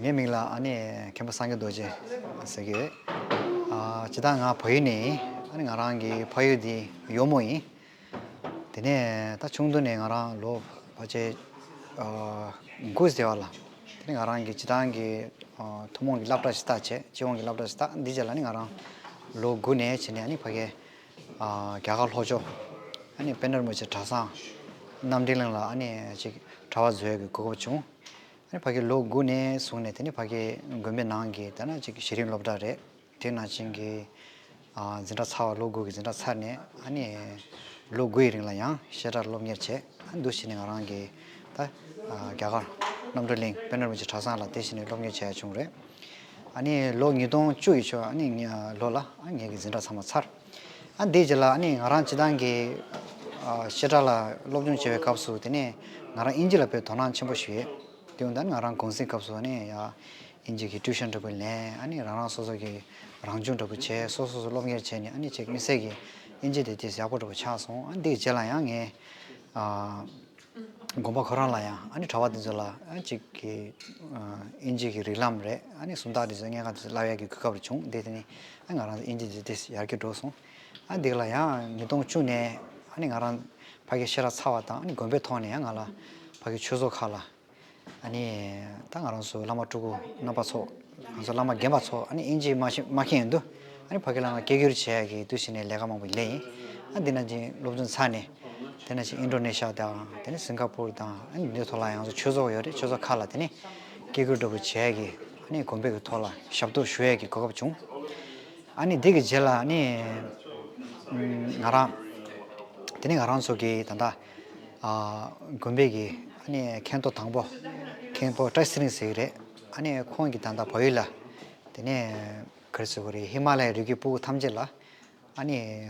ངའི་མིང་ལ་ཨ་ནི་མཁན་པོ་སངས་རྒྱས་རྡོ་རྗེ་ཟེར་གྱི་ཡོད། ཇི་ལྟར་ང་བོད་ཡིག་ནས་ཡིན། ང་རང་གི་ཕ་ཡུལ་འདི་ཡོལ་མོ་ཡིན། དེ་ནས་ད་ཆུང་དུས་ནས་ང་རང་ལོ་བར་ཆད་དགུ་ཟེར་བ་ལ་དེ་ནས་ང་རང་གི་བྱེ་ཐང་གི་ཐུན་མོང་གི་བསླབ་གྲྭ་ཞིག་བཏགས། སྤྱི་ཡོངས་ཀྱི་བསླབ་གྲྭ་ཞིག་བཏགས་འདི་བྱས་ལ་ནི་ང་རང་ལོ་དགུ་ནས་བྱས་ནས་ནི་ཕ་གའི་རྒྱ་གར་ལྷོ་ཕྱོགས། དཔལ་ནོར་མོ་ཆེ་གྲྭ་ཚང། རྣམ་འགྲེལ་གླིང་ལ། གྲྭ་བ་བཟོས་ཡོད་པའི་གོ་སྐབས་བྱུང། ཕ་གི་ལོ་དགུ་ནས་བཟུང་ནས་ཕ་གི་དགོན་པའི་ནང་གི་གཞི་རིམ་སློབ་གྲྭ་རེད། དེའི་ནང་བྱིངས་ཀྱི་འཛིན་གྲྭ་ཚར་བ་ལོ་དགུ་གི་འཛིན་གྲྭ་ཚར་ནས། ལོ་དགུ་ཡི་རིང་ལ་ཡང་བཤད་གྲྭར་སློབ་གཉེར་བྱས། འདུ་ཤེས་ནི་ང་རང་གི་རྒྱ་གར་རྣམ་གྲོལ་གླིང་དཔལ་ནོར་མོ་ཆེ་གྲྭ་ཚང་ལ་དེ་བཞིན་ནས་སློབ་གཉེར་བྱས་ཡོད་བྱུང་རེད། ལོ་ཉིས་སྟོང་བཅུ་ཡི་ཆུ་ལོ་ལ་ངེད་ཀྱི་འཛིན་གྲྭ་ཚང་མ་ཚར། དེའི་རྗེས་ལ་ང་རང་སྤྱི་བཏང་གི་བཤད་གྲྭ་ལ་སློབ་སྦྱོང་བྱེད་པའི་སྐབས་སུ་དེ་ནས་ང་རང་དབྱིན་ཇི་ལ་ཕེབས་དོ་སྣང་ཆེན་པོ་ཞིག་ཡོད། དེ་ཡང་ང་རང་གུང་སེང་སྐབས་སུ་དབྱིན་ཇི་གི་ཏུའུ་ཞན་འདྲ་པོ་ལེན་རང་རང་སོ་སོ་གི་རང་སྦྱོང་འདྲ་པོ་བྱས་སོ་སོ་སོ་སློབ་གཉེར་བྱས་ནས་མི་སེར་གྱི་དབྱིན་ཇི་དེ་དེ་ཡག་པོ་འདྲ་པོ་ཆགས་སོང་དེའི་རྗེས་ལ་ཡང་ངས་དགོན་པ་ཁོ་རང་ལ་ཡང་ཨ་ནི་གྲྭ་བ་འདི་ཚོ་ལ་ཅིག་གི་དབྱིན་ཇི་གི་རིགས་ལམ་རེད་ཨ་ནི་སུམ་རྟགས་འདི་ཚོ་སྙན་ཁག་འདི་ཚོ་བསླབ་ཡག་གི་གོ་སྐབས་རེ་བྱུང་བདེ་དེ་ནི་ཨ་ནི་ང་རང་དབྱིན་ཇི་འདི་འདི་ཡར་གྱི་འགྲོ་སོང་ཨ་ནི་འདི་ག་ལ་ཡང་ཉིས་སྟོང་བཅུ་ནས་ཨ་ནི་ང་རང་ཕ་གི་ཤེས་རབ་ཚ་བ་དང་ཨ་ནི་དགོན་པའི་ཐོག་ནས་ཡང་ང་ལ་ཕ་གི་ཆོས་ཚོགས་ཁག་ལ། ཨ་ནི། ད་ང་རང་སུ་བླ་མ་ཕྲུ་གུ་རྣམ་པ་ཚོ། ང་སུ་བླ་མ་རྒན་པ་ཚོ་ཨ་ནི་ཨིན་ཇིའི་དམག་ཤེད་མཁན་ཡིན་དུས། ཨ་ནི་ཕ་གི་བླ་མ་སྐད་སྒྱུར་བྱས་ཡ་གི་དུས་ཕྱི་ནས་ལས་ཀ་མང་པོ་ལས་ཡིན། ཨ་འདི་ན་ཅིང་སློབ་སྦྱོང་ཚར་ནས། དེ་ན་ཅིང་ཨིན་ཀྲོ་ནེ་ཤ་དང་དེ་ནས་སིང་ཀ་པུར་དང་ཨ་ནི་འདི་ཚོ་ལ་ཡང་སུ་ཆོས་ཚོགས་ཡོད་རེད་ཆོས་ཚོགས་ཁག་ལ་དེ་ནས། སྐད་སྒྱུར་འདྲ་པོ་བྱས་ཡ་གི་ཨ་ནི་དགོན་པའི་གི་ཐོག་ལ་ཞབས་ཏོག་ཞུ་ཡ་གི་གོ་སྐབས་བྱུང། ཨ་ནི་དེ་གི་རྗེས་ལ་ཨ་ནི། ང་རང། དེ་ནས་ང་རང་ཚོ་གི་ད་ལྟ། དགོན་པའི་གི་མཁན་ཐོག་དང་པོ་མཁན་པོ་བཀྲ་ཤིས་རིང་ཟེར་གྱི་རེད། ཁོང་གི་ད་ལྟ་བོད་ཡིག་ལ་དེ་ནས་ག་རེ་ཟེར་གྱི་རེད་ཧི་མ་ལའི་རི་རྒྱུད་སྤུ་གུ་ཐམས་ཅད་ལ་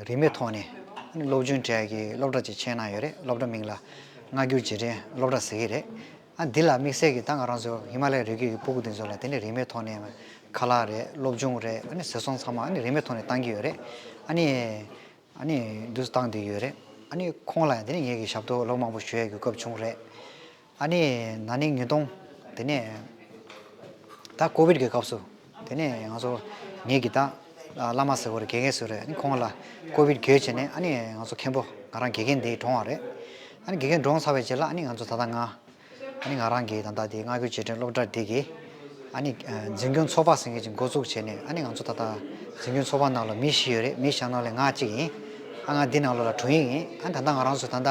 རིན་མེད་ཐོག་ནས་སློབ་ཆུང་གྲས་ཀྱི་སློབ་གྲྭ་ཅིག་ཕྱེས་གནང་ཡོད་རེད་སློབ་གྲྭ་མིང་ལ་སྔ་འགྱུར་རྗེས་དྲན་སློབ་གྲྭ་ཟེར་གྱི་རེད། འདི་ལ་དམིགས་བསལ་གྱི་ད་ང་རང་ཚོ་ཧི་མ་ལའི་རི་རྒྱུད་ཀྱི་སྤུ་གུ་འདི་ཚོ་ལ་དེ་ནས་རིན་མེད་ཐོག་ནས་ཁ་ལག་རེད་སློབ་ཆུང་རེད་ཟེར་སོང་ཚང་མ་རིན་མེད་ཐོག་ནས་བཏང་གི་ཡོད་རེད། ཨ་ནི་འདུག་སྟངས་དེ་ཡོད་རེད། ཨ་ནི་ཁོང་ལ་དེ་ནས་ངེད་ཀྱི་ཞབས་ཏོག་ལོག་མང་པོ་ཞུ་ཡ་དགོས་སྐབས་བྱུང་རེད། ཨ་ནི་ན་ནིང་ཉིས་སྟོང་དེ་ནས་ད་ཀོ་བིད་ཀྱི་སྐབས་སུ་དེ་ནས་ང་ཚོ་ངེད་ཀྱི་ད་བླ་མ་ཟེར་བ་རེ་དགེ་རྒན་ཟེར་བ་རེ་ཨ་ནི་ཁོང་ལ་ཀོ་བིད་གྱོད་བྱས་ནས་ཨ་ནི་ང་ཚོ་མཁན་པོ་ང་རང་དགེ་རྒན་འདི་བགྲོངས་བ་རེད། ཨ་ནི་དགེ་རྒན་བགྲོངས་ཚར་བའི་རྗེས་ལ་ཨ་ནི་ང་ཚོ་ད་ད་ང། ཨ་ནི་ང་རང་གིས་ད་ལྟ་དེ་སྔ་གོའི་བྱེས་འབྲིང་སློབ་གྲྭ་དེ་གའི་ཨ་ནི་འཛིན་སྐྱོང་ཚོགས་པ་ཟེར་མཁན་ཞིག་འགོ་བཙུགས་བྱས་ནས་ཨ་ནི་ང་ཚོ་ད་ལྟ་འཛིན་སྐྱོང་ཚོགས་པ་ནང་ལ་མི་བཞི་ཡོད་རེད་མི་བཞི་ནང་ལས་ང་གཅིག་ཡིན། ཨ་ང་འདི་ནང་ལོ་ལ་དྲུང་ཡིག་ཡིན་ཨ་ནི་ད་ལྟ་ང་རང་ཚོ་ད་ལྟ་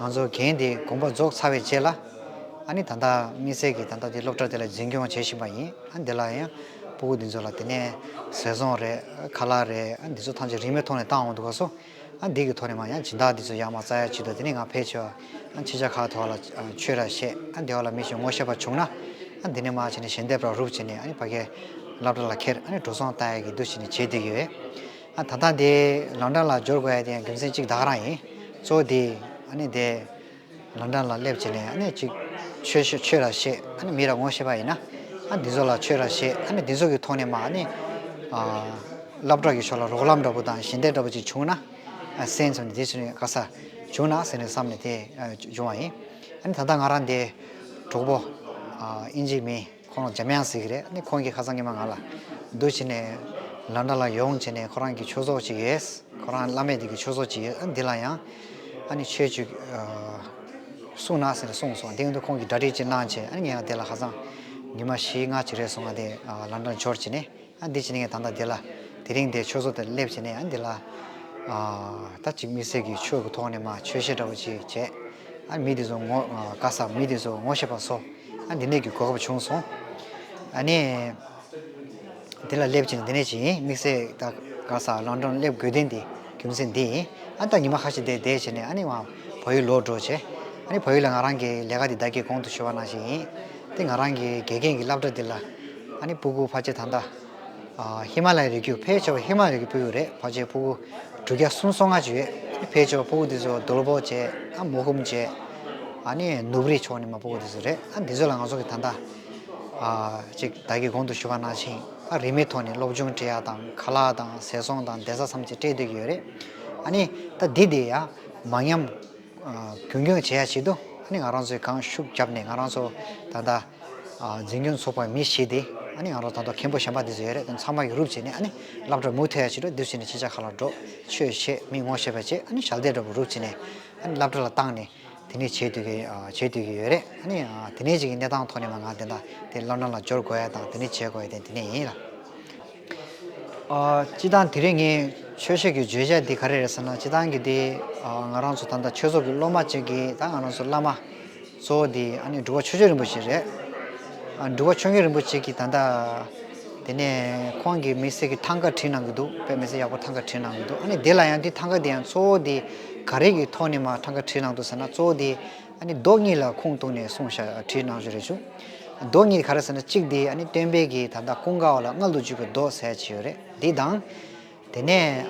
ང་ཚོ་གན་དེ་དགོངས་པ་རྫོགས་ཚར་བའི་རྗེས་ལ་ཨ་ནི་ད་ལྟ་དམིགས་བསལ་གྱིས་ད་ལྟ་དེ་སློབ་གྲྭ་དེ་ལ་འཛིན་སྐྱོང་བྱེད་བཞིན་པ་ཡིན་ཨ་འདི་ལ་ཡང་སྤུ་གུ་འདི་ཚོ་ལ་དེ་ནས་ཟས་བཟང་རེད་ཁ་ལག་རེད་འདི་ཚོ་ཐམས་ཅད་རིན་མེད་ཐོག་ནས་བཏང་འོང་འདུག་ག་སོ། ཨ་འདི་གི་ཐོག་ནས་མ་ཡང་སྦྱིན་བདག་འདི་ཚོ་ཡང་མ་རྩ་ཡ་བྱི་དོ་དེ་ནས་ང་ཕལ་ཆེ་བ་ཁྱེད་ཅག་ཁ་ཐོག་ལ་ཆོས་ར་བཤད་ཨ་འདི་འོག་ལ་མི་ཞིག་ངོ་ཤེས་པ་བྱུང་ན་ཨ་འདི་ནས་མ་བྱེད་ནས་ཞལ་འདེབས་ར་རུབ་བྱེད་ནས་ཨ་ནི་ཕ་གའི་ལབ་དྲ་ལ་ཁྱེར་ཨ་ནི་འགྲོ་སོང་ལྟ་ཡ་གི་འདུ་བྱེད་ནི་བྱེད་སྡོད་ཀྱི་ཡོད་ཨ་ད་ལྟ་འདི་ལམ་འགྲམ་ལ་འབྱོར་དགོས་ཡ་དེ་ཡང་རྒྱུ་མཚན་གཅིག་བདག་རང་ཡིན་གཙོ་བོ་འདི་ཨ་ནི་འདི། ལ་འདྲ་ལ་སླེབས་བྱས་ནས་ཨ་ཅིག། ཆོས་ཤེས་ཆོས་ར་ཤེས་ཨ་མི་ར་ངོ་ཤེས་པ་ཡིན་ན། ཨ་འདི་ཟོ་ལ་ཆོས་ར་ཤེས་ཨ་འདི་ཟོ་གི་ཐོག་ནས་མ་ཨ་ནི། སླབ་གྲགས་ཀྱི་ཕྱོགས་ལ་རོགས་ལམ་འདྲ་པོ་དང་ཞི་བདེ་འདྲ་པོ་ཅིག་བྱུང་ན། སེམས་སུ་ནི་དེ་ཚོ་ནི་དཀའ་ས། བྱུང་ན་ཟེར་ནས་བསམ་ནས་དེ་བྱུང་བ་ཡིན། ཨ་ནི་ད་ལྟ་ང་རང་འདི། གྲོགས་པོ། ཨིན་ཇིའི་མི། ཁོང་རང་འཇམ་དབྱངས་ཟིག་རེད་ནི་ཁོང་གིས་ཁ་སང་ཉི་མ་ང་ལ། འདུག་བྱས་ནས། ལ་འདྲ་ལ་ཡོང་བྱས་ནས་ཁོ་རང་གི་ཆོས་ཚོགས་ཅིག་ཡོད། ཁོ་རང་བླ་མེད་དེ་གི་ཆོས་ཚོགས་ཅིག་ཡོད་འདི་ལ་ཡང། ཨ་ནི་ཆོས་བཅུ། གསུང་ན་ཟེར་ནས་གསུངས་སོང་དེ་ཡང་དུ་ཁོང་གིས་གྲ་སྒྲིག་ཅིག་གནང་བྱས་ཨ་ནི་ངས་ཡང་དེ་ལ་ཁ་སང། ཉི་མ་བཞི་ལྔ་ཅིག་རེད་སོང་ང་དེ་ལ་འདྲ་འབྱོར་བྱས་ནས། ཨ་འདི་བྱས་ནས་ངས་ད་ལྟ་འདི་ལ་དེ་རིང་འདི་ཆོས་ཟོ་དེར་སླེབས་བྱས་ནས་ཨ་འདི་ལ། ད་ཅིག་མི་སེར་གྱི་ཆོས་ཀྱི་ཐོག་ནས་མ་ཆོས་ཤེས་འདྲ་བོ་ཅིག་བྱས། ཨ་མི་འདི་ཚོ་ངོ་དགའ་ས་མི་འདི་ཚོ་ངོ་ཤེས་པ་སོ་ཨ་འདི་ནད་ཀྱི་གོ་སྐབས་བྱུང་སོང། ཨ་ནི། འདི་ལ་སླེབས་བྱས་ནས་འདི་ནས་ཅིག་དམིགས་བསལ་ད་ག་སར་ལང་གྲོང་སླེབས་དགོས་དོན་འདི་རྒྱུ་མཚན་འདི་ཡིན་ཨ་ད་ཉི་མ་ཁ་ཤས་འདིར་བསྡད་བྱས་ནས་ཨ་ནི་ང་བ་ཡུལ་ལོག་འགྲོ་བྱས། ཨ་ནི་བ་ཡུལ་ལ་ང་རང་གི་ལས་ཀ་འདི་བདག་གིས་གོང་དུ་ཤོད་པ་ནང་བཞིན་ཡིན། དེ་ང་རང་གི་དགེ་རྒན་གྱི་བསླབ་གྲྭ་འདི་ལ། ཨ་ནི་སྤུ་གུ་བྷ་ཇེ་ད་མདའ། ཧི་མ་ལའི་རི་རྒྱུད་ཕལ་ཆེ་བ་ཧི་མ་རི་གི་སྤུ་གུ་རེད་བྷ་ཇེ་སྤུ་གུ་གྲུ་བརྒྱ་གསུམ་སོ་ལྔ་ཅིག་ཡོད་ཕལ་ཆེ་བ་སྤུ་གུ་འདི་ཚོ་རྡོལ་བོ་ཇེ་ཨ་མོ་ཧུམ་ཇེ་ཨ་ནི་ནུབ་རི་ཕྱོགས་ནི་མ་སྤུ་གུ་འདི་ཚོ་རེད་ཨ་འདི་ཚོ་ལ་ང་ཚོ་གི་ད་མདའ། ཅིག་བདག་གིས་གོང་དུ་ཞུ་བ་གནང་ཕྱིན་ཨ་རི་མི་ཐོག་ནི་སློབ་ཆུང་བྲེ་ཡ་དང་ཁ་ལག་དང་ཟས་སོང་དང་བདེ་ས་མཚམས་ཅིག་སྤྲད་སྡོད་ཀྱི་ཡོད་རེད་ཨ་ནི་ད་འདི་འདི་ཡ་མ་ཉམས། རྒྱུན་འཁྱོངས་བྱེད་ཡ་ཆེད་དུ་ང་རང་ཚོས་གངས་ཤུགས་བརྒྱབ་ནས་ང་རང་ཚོ་ད་ལྟ་འཛིན་སྐྱོང་ཚོགས་པའི་མི་བྱས་ཏེ་ང་རང་ཚོ་ད་དུང་མཁན་པོ་གཞན་པ་འདི་ཚོ་ཡོད་རེད་དེ་ཚང་མ་གི་རུབ་བྱས་ནས་བསླབ་གྲྭར་མུ་མཐུད་ཡ་ཆེད་དུ་འདིར་བྱས་ནས་ཁྱེད་ཅག་ཁ་ལ་འགྲོ་ཆོས་བྱེད་མི་ངོ་ཤེས་པ་བྱེད་ཞལ་འདེབས་འདྲ་པོ་རུབ་བྱས་ནས་བསླབ་གྲྭ་ལ་བཏང་ནས་དེ་ནས་བྱེད་སྡོད་ཀྱི་ཡོད་རེད་དེ་ནས་ཀྱི་གནས་སྟངས་ཐོག་ནས་མ་ང་དེ་འདྲ་དེ་བསླབ་གྲྭ་ལ་འབྱོར་དགོས་ཡ་དང་དེ་ནས་བྱེད་དགོས་ཡ་དེ་འདི་ནས་ཡིན་ལ། སྤྱི་དང་དེ་རིང་ངས་ཆོས་ཤིག་གི་བརྗོད་བྱ་འདི་ག་རེ་རེད་ཟེར་ན་སྤྱི་དང་གི་དེ་ང་རང་ཚོ་ད་ལྟ་ཆོས་ཚོགས་ཀྱི་སློབ་མ་གཅིག་གི་ད་ང་རང་ཚོ་བླ་མ་གཙོ་བོ་དེ་ཨ་ནི་འགྲུལ་བ་ཆོས་རྗེ་རིན་པོ་ཆེ་རེད། འགྲུལ་བ་ཆོས་རྗེ་རིན་པོ་ཆེ་གིས་ད་ལྟ་དེ་ནས་ཁོང་གིས་མི་སེར་གྱི་ཐང་ག་བྲིས་གནང་གི་འདུག་དཔེ་མི་སེར་ཡག་པོ་ཐང་ག་བྲིས་གནང་གི་འདུག་ཨ་ནི་དེ་ལ་ཡང་དེ་ཐང་ག་དེ་ཡང་གཙོ་བོ་དེ་ག་རེ་གི་ཐོག་ནས་མ་ཐང་ག་བྲིས་གནང་འདུག་ཟེར་ན་གཙོ་བོ་དེ་ཨ་ནི་རྡོག་གཉིས་ལ་ཁུངས་གཏུགས་ནས་གསུངས་ཞག་བྲིས་གནང་བཞུ་རེ་ཞུ། རྡོག་གཉིས་ག་རེ་ཟེར་ན་གཅིག་འདི་ཨ་ནི་སྟོན་དཔལ་གྱིས་ད་ལྟ་ཀུན་དགའ་བ་ལ་མངལ་དུ་འཇུག་པའི་རྡོག་ཟེར་གྱི་ཡོད་རེད་འདི་དང། དེ་ནས།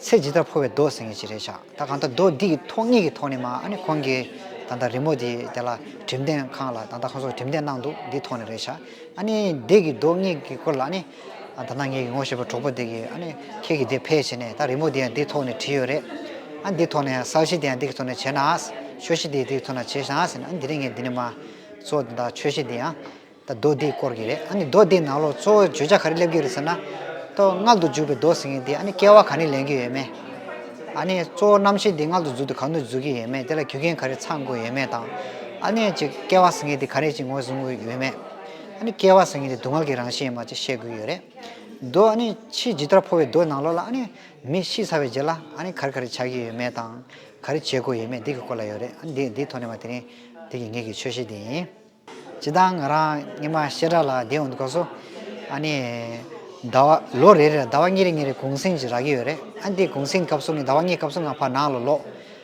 ཚེ་ཇི་ལྟར་འཕོ་བའི་རྡོག་ཟེར་ངེས་ཀྱི་རེད་ཞག་ད་གང་ལྟར་རྡོག་འདི་ཀྱི་ཐོག་གཉིས་ཀྱི་ཐོག་ནས་མ་ཨ་ནི་ཁོང་གིས་ད་ལྟ་རི་མོ་དེ་དེ་ལ་གྲིམ་འདེང་ཁང་ལ་ད་ལྟ་ཁོང་ཚོ་གྲིམ་འདེང་གནང་འདུག་འདི་ཐོག་ནས་རེད་ཞག་ཨ་ནི་འདི་ཀྱི་རྡོག་གཉིས་ཀྱི་སྐོར་ལ་ཨ་ནི་ད་ནངས་ཀྱི་ངོ་ཤེས་པ་གྲོགས་པོ་འདི་གིས་ཨ་ནི་ཁྱེད་ཀྱིས་འདི་ཕེལ་བྱས་ནས་ད་རི་མོ་འདི་ཡང་འདིའི་ཐོག་ནས་བྲིས་ཡོད་རེད། ཨ་འདིའི་ཐོག་ནས་ཡང་ས་གཞི་འདི་ཡང་འདི་གི་ཐོག་ནས་བྱས་ནའང་ཆོས་གཞི་འདི་ཡི་འདི་གི་ཐོག་ནས་བྱས་ཤངས་ཟེར་ནས་ཨ་འདི་རིང་ངས་འདི་ནས་མ། གཙོ་བོ་ད་ཆོས་གཞི་འདི་ཡང། ད་རྡོ་འདིའི་སྐོར་གྱི་རེད་ཨ་ནི་རྡོ་འདིའི་ནང་ལོགས་གཙོ་བོ་བརྗོད་བྱ་ག་རེ་སླེབས་ཀྱི་རེད་ཟེར་ན། ལྟོ་མངལ་དུ་འཇུག་པའི་རྡོ་ཟེར་མཁན་འདིས་ཨ་ནི་སྐྱེ་བ་ག་ནས་ལེན་གྱི་ཡོད་མེད། ཨ་ནི་གཙོ་བོ་རྣམ་ཤེས་འདི་མངལ་དུ་འཛུལ་དུ་གང་དུ་འཛུལ་གྱི་ཡོད་མེད་དེ་ལ་རྒྱུ་རྐྱེན་ག་རེ་ཚང་དགོས་ཡོད་མེད་དང། ཨ་ནི་ཅིག་སྐྱེ་བ་ཟེར་མཁན་འདི་ག་རེ་ཅིག་ངོས་བཟུང་དགོས་ཡོད་མེད། སྐྱེ་བ་སེང་གེ་དེ་སྡུག་བསྔལ་གྱི་རང་བཞིན་ཡིན་པ་བཅས་བཤད་དགོས་ཡོད་རེད། རྡོ་ཕྱིས་ཇི་ལྟར་ཕོ་བའི་རྡོའི་ནང་ལོགས་ལ་མི་ཤི་ཚར་བའི་རྗེས་ལ་ག་རེ་ག་རེ་བྱ་གི་ཡོད་མེད་དང། ག་རེ་བྱེད་དགོས་ཡོད་མེད་འདི་གི་སྐོར་ལ་ཡོད་རེད། འདི་འདིའི་ཐོག་ནས་བ་དེ་རིང་འདི་གི་ངེད་ཀྱི་ཆོས་བཤད་འདི་ཡིན། སྤྱི་དང་ང་རང་སྙིང་མ་ཤེས་དྲག་ལ་བདེ་འོང་དུ་གོ་སོ། ཟླ་བ་ལོ་རེ་རེར་ཟླ་བ་གཉིས་རེ་གཉིས་རེ་གུང་གསེང་ཅིག་རག་གི་ཡོད་རེད། འདི་གུང་གསེང་སྐབས་སུ་ནི་ཟླ་བ་གཉིས་སྐབས་སུ་ང་ཕ་ནང་ལ་ལོག།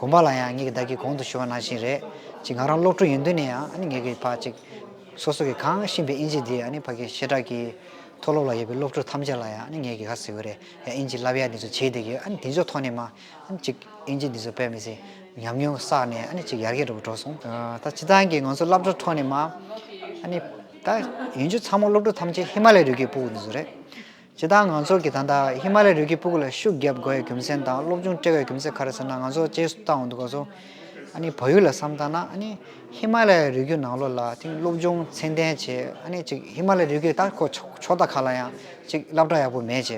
དགོངས་པ་ལ་ཡང་ངེད་ཀྱིས་བདག་གི་གོང་དུ་ཞུ་བ་ནང་བཞིན་རེད་ཅེས་ངག་རང་ཀློག་སྤྲོད་ཡོང་དོན་ནི་ཡང་ངེད་ཀྱིས་ཕར་ཅིག། སོ་སོ་གྱིས་གང་བཤིན་པའི་དབྱིན་ཇི་འདི་ཕར་གྱིས་ཞེ་དྲག་གིས། མཐོ་སློབ་ལ་ཡོད་པའི་སློབ་ཕྲུག་ཐམས་ཅད་ལ་ཡང་ངེད་ཀྱིས་ག་ཟེར་དགོས་རེད་ཡ་དབྱིན་ཇི་བསླབ་ཡ་འདི་ཚོ་བྱེད་བསྡད་ཀྱི་དེ་ཚོའི་ཐོག་ནས་མ་ཅིག་དབྱིན་ཇི་འདི་ཚོ་སྤེལ་མི་སྲིད་ཉམས་མྱོང་བསགས་ནས་ཅིག་ཡར་རྒྱས་འགྲོ་དགོས་གྲོགས་སོང། ད་སྤྱི་ཚང་གི་ང་ཚོ་བསླབ་གྲྭ་ཐོག་ནས་མ། ད་ཡོན་ཆོད་ཚང་མ་སློབ་ཕྲུག་ཐམས་ཅད་ཧི་མ་ལའི་རི་གའི་སྤུག་འདི་ཚོ་རེད། བྱེད་སྟངས་ང་ཚོར་གྱི་ད་ལྟ་ཧི་མ་ལའི་རི་ཁའི་སྤུ་གུ་ལ་ཤུགས་བརྒྱབ་དགོས་ཡའི་རྒྱུ་མཚན་དང་སློབ་ཆུང་བཀྲལ་བའི་རྒྱུ་མཚན་ག་རེ་ཟེར་ན་ང་ཚོ་བྱེད་སྟངས་འོག་ཏུ་གོ་སོང། ཨ་ནི་བོད་ཡུལ་ལ་བསམ་དཀའ་ན་ཨ་ནི་ཧི་མ་ལའི་རི་རྒྱུད་ནང་ལོགས་ལ་དེང་སློབ་ཆུང་ཚད་ལྡན་བྱས་ཨ་ནི་གཅིག་ཧི་མ་ལའི་རི་རྒྱུད་ད་ཁོ་ཕྱོགས་མཐའ་ཁག་ལ་ཡང་གཅིག་སླབ་གྲྭ་ཡག་པོ་མེད་བྱས་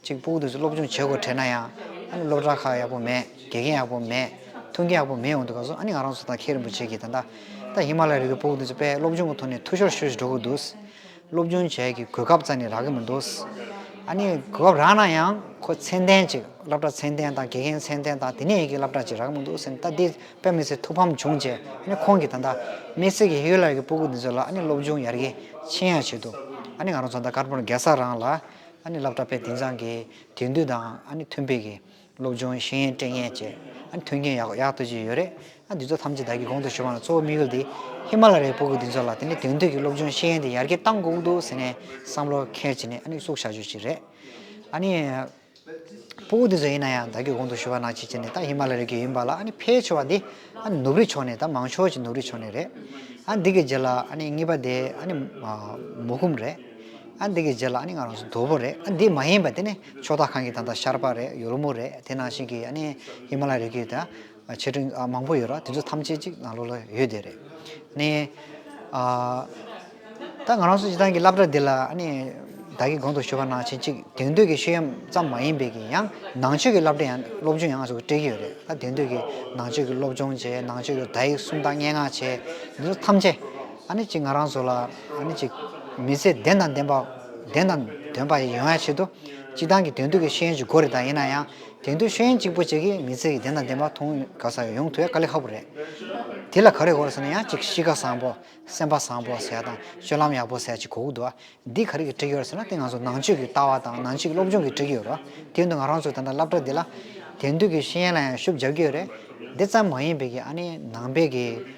གཅིག་སྤུ་གུ་དུས་སུ་སློབ་ཆུང་བྱེད་དགོས་བྲལ་ན་ཡང་ཨ་ནི་སློབ་གྲྭ་ཁག་ཡག་པོ་མེད་དགེ་རྒན་ཡག་པོ་མེད་ཐུགས་འགན་ཡག་པོ་མེད་འོག་ཏུ་ག་སོང་ཨ་ནི་ང་རང་ཚོ་དང་ཁྱེད་རིན་པོ་ཆེ་གྱིས་ད་ལྟ་ད་ཧི་མ་ལའི་རི་རྒྱུད་སྤུ་གུ་དུས་སུ་དཔེ་སློབ་ཆུང་གི་ཐོག་ནས་ཐུགས་ཤོར་ཤོར་ཞིག་འགྲོ་དགོས་འདུག། སློབ་སྦྱོང་བྱས་ཀྱི་གོ་སྐབས་རྩ་ནས་རག་གི་མི་འདུག། ཨ་ནི་གོ་སྐབས་རག་ན་ཡང་ཁོ་ཚད་ལྡན་ཅིག་སློབ་གྲྭ་ཚད་ལྡན་དང་དགེ་རྒན་ཚད་ལྡན་དང་དེ་ནས་ཡི་གེ་སླབ་གྲྭ་ཅིག་རག་གི་མི་འདུག་ཟེར་ནས་ད་ལྟའི་དཔེ་མི་ཚེ་ཐུགས་ཕམ་བྱུང་རྗེས་ཨ་ནི་ཁོང་གིས་ད་ལྟ་དམིགས་བསལ་གྱི་ཧི་ཡོ་ལ་ཡའི་སྤོ་སྒུག་འདི་ཚོ་ལ་ཨ་ནི་སློབ་སྦྱོང་ཡར་རྒྱས་ཕྱིན་ཡག་བྱེད་དུ་ཨ་ནི་ང་རང་ཚོ་ད་དཀར་པོར་འགལ་ས་རང་ལ་ཨ་ནི་སླབ་གྲྭ་དཔེ་དེང་སང་གི་དུས་འདུས་དང་ཨ་ནི་ཐུན་དཔེ་གི། སློབ་སྦྱོང་ཤེས་ཡོན་སྤྲད་མཁན་བཅས་མཐུན་རྐྱེན་ཡག་ཡག་གཏོད་ཀྱི་ཡོད་རེད། འདི་ཚོ་ཐམས་ཅད་བདག་གིས་གོང་དུ་ཞུས་པ་ལ་གཙོ་བོ་དམིགས་ཡུལ་དེ་ཧི་མ་ལ་རའི་སྤུ་གུ་འདི་ཚོ་ལ་དེ་ནས་དེང་དུས་ཀྱི་སློབ་སྦྱོང་ཤེས་ཡོན་དེ་ཡར་རྒྱས་གཏང་དགོས་འདུག་ཟེར་ནས་བསམ་བློ་འཁྱེར་བྱས་ནས་བཙུགས་བྱ་རྒྱུ་ཞིག་རེད། སྤུ་གུ་འདི་ཚོ་ཡིན་ན་ཡང་བདག་གིས་གོང་དུ་ཞུས་པ་ནང་བྱས་ནས་ཧི་མ་ལ་རའི་བརྒྱུད་ཡིན་པ་ལ་ཕལ་ཆེ་བ་འདི་ནུབ་རིའི་ཕྱོགས་ནས་མང་ཕྱོགས་ཀྱི་ནུབ་རིའི་ཕྱོགས་ནས་རེད། འདི་གའི་རྗེས་ལ་གཉིས་པ་དེ་མོ་ཁུམ་རེད། འདི་གའི་རྗེས་ལ་ང་རང་ཚོ་དོལ་པོ་རེད་འདི་མ་ཡིན་པ་དེ་ནི། ཕྱོགས་མཐའ་གང་གི་ད་ལྟ་ཤར་པ་རེད་ཡོ་རོབ་མོ་རེད་དེ་ནང་བཞིན་གྱི་ཨ་ནེ་ཧི་མ་ལ་རི་གི་ད་ཆེ་ཆུང་མང་པོ་ཡོད་རོ་དེ་ཚོ་ཐམས་ཅད་ཅིག་ང་ལོ་ལ་ཡོད་དེ་རེད་ནས་ཨ། ད་ང་རང་སུ་ཅི་ཐང་གི་བསླབ་གྲྭ་འདི་ལ་ཨ་ནེ་བདག་གི་དགོངས་དུ་ཞུ་བ་ནང་བཞིན་ཅིག་དེང་དུས་ཀྱི་ཤུལ་ཡམ་ཙམ་མ་ཡིན་པའི་གི་ཡང་ནང་ཆོས་ཀྱི་བསླབ་གྲྭ་ཡང་སློབ་ཆུང་ཡང་ང་ཚོ་སྤྲད་ཀྱི་ཡོད་རེད་ད་དེང་དུས་ཀྱི་ནང་ཆོས་ཀྱི་སློབ་སྦྱོང་བྱེད་ནང་ཆོས་ཀྱི་དག་ཡིག་སུམ་རྟགས་སྙན་ངག་བྱེད་འདི་ཚོ་ཐམས་ཅད་ཨ་ནེ་ཅིག་ང་རང་ཚོ་ལ་ཨ་ནི་གཅིག། མི་ཚེ་བདེན་དང་བདེན་པ། བདེན་དང་དོན་པ་ཡིན་ཡང་ཆེད་དུ། སྤྱི་བཏང་གི་དོན་བསྡུ་གི་ཤེས་ཡོན་གྱི་སྒོ་རེ་དང་ཡིན་ན་ཡང། དོན་བསྡུ་ཤེས་ཡོན་གཅིག་པོ་གཅིག་གིས་མི་ཚེ་ཡི་བདེན་དང་བདེན་པ་མཐོང་དཀའ་ས་ཡོང་ཐུ་ཡ་དཀའ་ལས་ཧ་པོ་རེད། དེ་ལ་ག་རེ་དགོས་ཟེར་ན་ཡང་གཅིག་གཤིས་ཀ་བཟང་པོ། སེམས་པ་བཟང་པོ་ཟེར་དང་སྤྱོད་ལམ་ཡག་པོ་ཟེར་གཅིག་གོ་གི་འདུག་ཨ། འདི་ག་རེ་གི་འགྲིག་ཡོད་ཟེར་ན་དེ་ང་ཚོ་ནང་ཆོས་ཀྱི་ལྟ་བ་དང་ནང་ཆོས་ཀྱི་སློབ་སྦྱོང་གི་འགྲིག་ཡོད་རོ། དེ་ཡོད་དུ་ང་རང་ཚོ་དེ་འདྲ་བསླབ་གྲ་འདི་ལ། དོན་བསྡུ་གི་ཤེས་ཡོན་ལ་ཡང་ཤུགས་རྒྱབ་ཀྱི་ཡོད་རེད། དེ་ཙམ་མ་ཡིན་པའི་གི་ཨ་ནི་ནང་པའི་གི།